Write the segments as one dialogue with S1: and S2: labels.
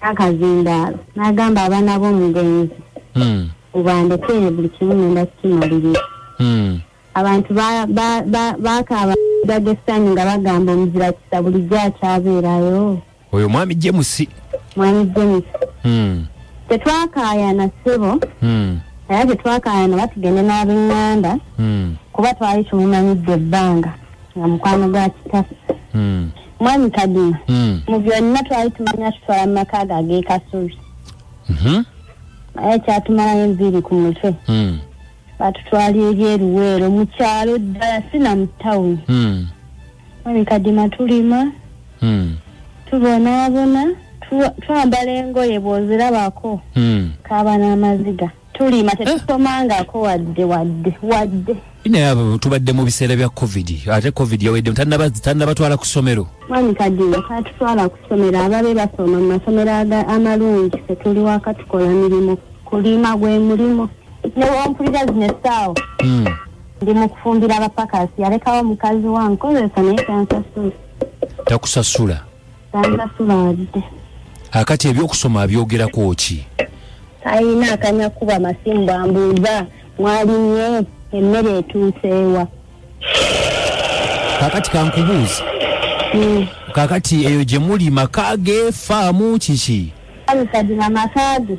S1: akazindaalo n'agamba abaana b'omugenzi hmm. ubandekere buli kimu ngenda kukimalirira hmm. abantu bakaaba gaga essanyu nga bagamba omuzira kisa bulijjo akyabeerayo oyo mwami
S2: jemusi mwami
S1: jemusi hmm. tetwakaayana ssebo era tetwakaayana batugende n'abenganda kuba twali tumumanyidde ebbanga nga mukwano gwa kitaffe mwami kadima hmm. mu byonna twali tumanya tutwala mu maka ago ag'ekasubi mhm. naye kyatumalayo enviiri ku mutwe hmm. batutwala eri eruweero mu kyalo ddala sina mu tawuni hmm. mwami kadima tulima tubonaabona twambala engoye bw'ozirabako kaaba n'amaziga tulima tetusomangako wadde wadde wadde naye abo
S2: tubadde mu biseera bya covid ate covid yaweddemu tannabatwala ku ssomero mwami kadiyo
S1: tatutwala ku ssomero ababe basoma mu masomero amalungi fetuli waka tukola mirimu kulima gwe mulimu newompulira zino essaawa hmm. ndi mu kufumbira abapakasi yalekawo mukazi wankozesa naye tansasula takusasula banasulaalide akati
S2: ebyokusoma abyogerako ki ayina
S1: akanya kuba masimu bambuuza mwalimye emmere etuuseewa
S2: kakati kankubuuzi hmm. kakati eyo gye muli maka ge faamu kiki amusajima
S1: maka ge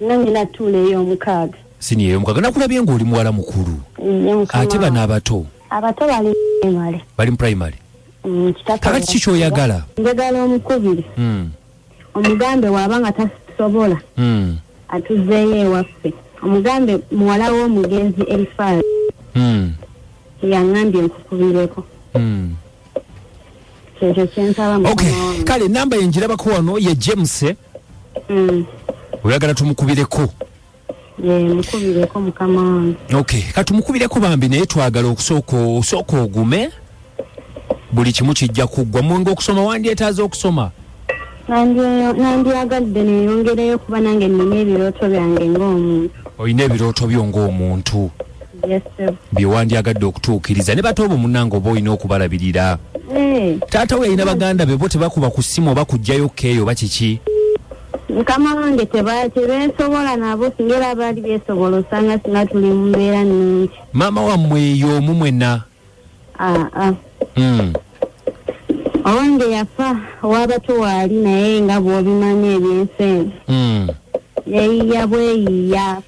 S1: Nange natuula ey'omukaaga. Siniya ey'omukaaga
S2: nakulabye ng'oli muwala mukulu. Ate bano abato. Abato bali
S1: primary. Bali mu primary.
S2: Mm, Kakati ki kyoyagala? Njagala omukubiri.
S1: Mm. Omugambe waaba nga tasobola. Mm. Atuzzeeyo ewaffe. Omugambe muwala w'omugenzi Elifaz. Mm. Yangambye nkukubireko. Mm. Kyekyo kyensaba mukama wange. Okay, kale namba yenjirabako
S2: wano ye James. mm. oyagala tumukubireko mukubireko
S1: mukama wange okay katumukubireko
S2: bambi naye twagala okusooka osooka ogume buli kimu kijja kuggwa munga okusoma wandyetaaza okusoma nandyagadde
S1: neyongereyo kuba nange nina ebirooto byange ngaomuntu olina ebirooto
S2: byo ngaomuntu
S1: byewandyagadde
S2: okutuukiriza ne bata obo munange oba olina okubalabirira eh. taata we yalina baganda be bo tebakuba ku ssimu oba kujjayo keeyo oba kiki mukama
S1: wange tebesobola nabo singa era baali besobola osanga singa tuli mu mbeera nungi maama wammwe
S2: eyo omu mwena ah, ah. hmm.
S1: owange yafa owabato waali naye nga bwobimanyi ebyensi eno hmm. yeyiya bweyiya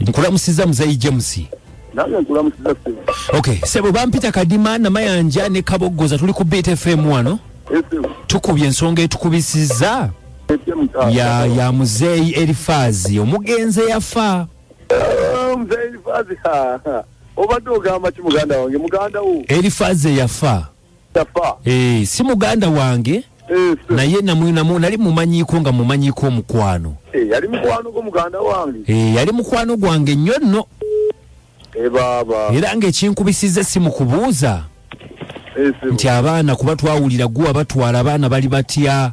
S2: nkulamusiza muzeyi james nange nkulamusiza
S3: sebo okay sebo bampita
S2: kadima namayanja ne kaboggoza tuli ku beat fm wano tukubye ensonga etukubisiza ya, ya muzeeyi erifaazi omugenzi eyafa
S3: Mzee Elifazi ha ha. Obadde ogamba ki muganda wange muganda wo? Elifazi yafa.
S2: Yafa. Eh, si muganda wange. Eh, naye namwinamu nali mumanyiko nga mumanyiko omukwano. Eh, yali mukwano gwo
S3: muganda wange. Eh, yali mukwano
S2: gwange nnyo nno. Eh,
S3: baba. Era
S2: ng'ekinkubisiza essimu kubuuza. Eh, nti abaana kuba twawulira gwe abatwala abaana bali batya.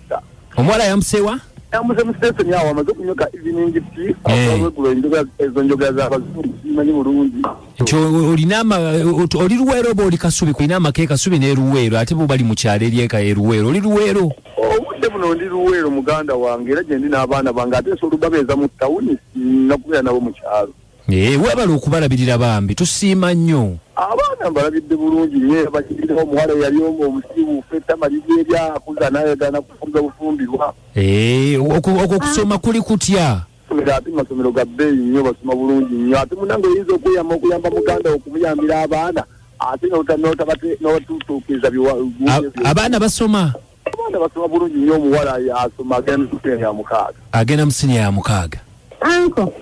S3: omuwala yamusewa
S2: yamuze musiteseni
S3: awo amaze okunyoka evening tea awegulo eh. enjoga ezo njoga za bazungu manyi bulungi nti olina
S2: ama oli luweero oba oli kasubi kulina amaka ekasubi n'eruweero ate bo bali mu kyalo eryeka eruweero oli luweero obudde buno ndi
S3: luweero muganda wange era gyendi n'abaana bange ate nsobola obabeeza mu tawuni nakubeera nabo mu kyalo Eee webale
S2: okubalabirira bambi tusiima nnyo. Abaana mbalabidde
S3: bulungi nnyo era bakirina omuwala eyali omu omusibu fetama liri eryakuza nayagana kufuga bufumbirwa. Eee
S2: okwo okusoma kuli kutya? Masomero ate masomero
S3: ga bbeeyi nnyo basoma bulungi nnyo ate munange oyinza okweyama okuyamba muganda okumuyambira abaana ate notatutuukiriza
S2: abaana basoma abaana basoma
S3: bulungi nnyo omuwala asoma agenda musinya ya mukaaga agenda musinya ya
S2: mukaaga anko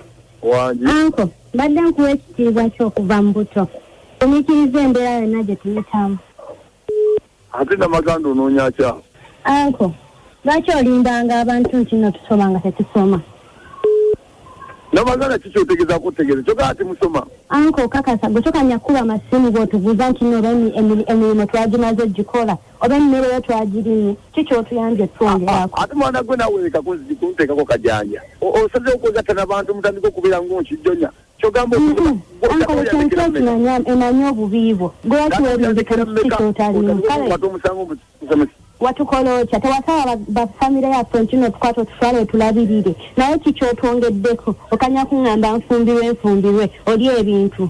S1: wangi
S3: anko mbadde
S1: nkuwa ekitiibwa kyokuva mu buto omikiriza embeera yonna gye tuyitamu
S3: ate namaganda onoonya kya anko
S1: lwaki olimbanga abantu nti no tusoma nga tetusoma namaganda
S3: ki kyotegeeza kutegeeza kyoka ati musoma anko kakasa gwe
S1: tokanya kukuba amasimu bwotubuuza nti no emirimu twagimaze ogikola oba emmere yo twagirinye ki kyotuyambye twongerako ate mwana gwe nawe leka
S3: kunteekako kajanja osaze okwegatta nabantu mutandika okubeera ngaonkijjonya kyogamba
S1: emanyi obubi bwo gwewatuwerinzekyotalinaomusango watukola otya tewasaba bafamire yaffe ntino otukwata otufala otulabirire naye kikyotwongeddeko okanya kuŋŋamba nfumbirwe nfumbirwe oli ebintu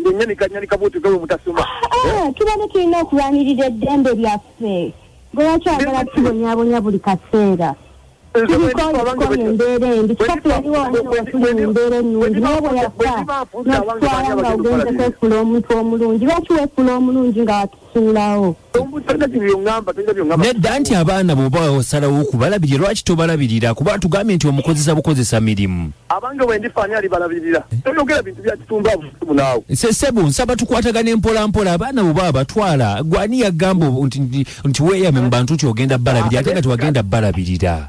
S3: ngenyanika nyanika bwotyo gawe mutasoma ah, ah, tubane tulina
S1: okulwanirira eddembe lyaffe lwaki agala tubonyabonya buli kaseera tulikolikola embeera embi kikafu yaliwo omuwasula embeera ennungi naye bwe yafa nakutwala nga ogenze kwefula omuntu omulungi lwaki wefula omulungi nga watu suulawo
S2: nedda nti abaana bwoba osalawo okubalabirira lwaki tobalabirira kuba atugambye nti omukozesa bukozesa mirimu abange wendifaani
S3: alibalabirira eh? toyogera bintu byakitumbabunawe sebo nsaba
S2: tukwatagana empola mpola abaana bwoba abatwala gwani yagamba nti weyame mu bantu nti ogenda balabirira ate nga tewagenda balabirira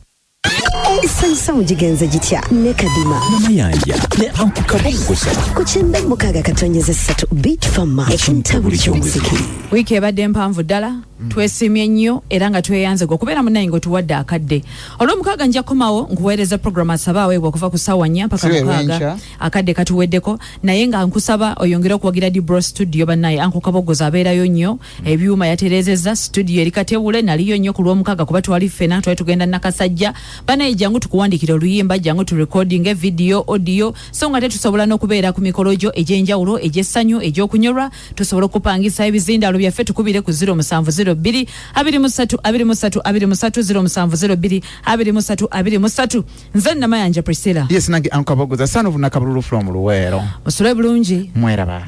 S4: esanyusa mu gigenze gitya ne kadima namayanja ne
S2: anku kaboggosa ku kyenda mukaaga
S4: katonyeza essatu bit fama ekintabuli ky'omuziki wiiki ebadde
S5: mpanvu ddala mm. twesimye nnyo era nga tweyanze gwe okubeera munaye nga otuwadde akadde olwomukaaga nja kukomawo nkuweereza programu asaba aweebwa okuva ku ssaawa nnya mpaka mukaaga akadde katuweddeko naye nga nkusaba oyongere okuwagira dibro studio bannaye ankukabogoza abeerayo nnyo ebyuma yaterezeza studio eri katewule naliyo nnyo ku lwomukaaga kuba twali ffena twali tugenda nakasajja banaye jangu tukuwandikira oluyimba jangu tu recording e video audio so nga tetusobola n'okubeera ku mikolo gyo egy'enjawulo egy'essanyu egy'okunyolwa tusobola okupangisa ebizindaalo byaffe tukubire ku 0702 23 23 23 0702 23 23 nze namayanja priscilla
S6: yes nange ankabogoza
S5: son
S6: of nakabululu from luweero musule
S5: bulungi
S6: mweraba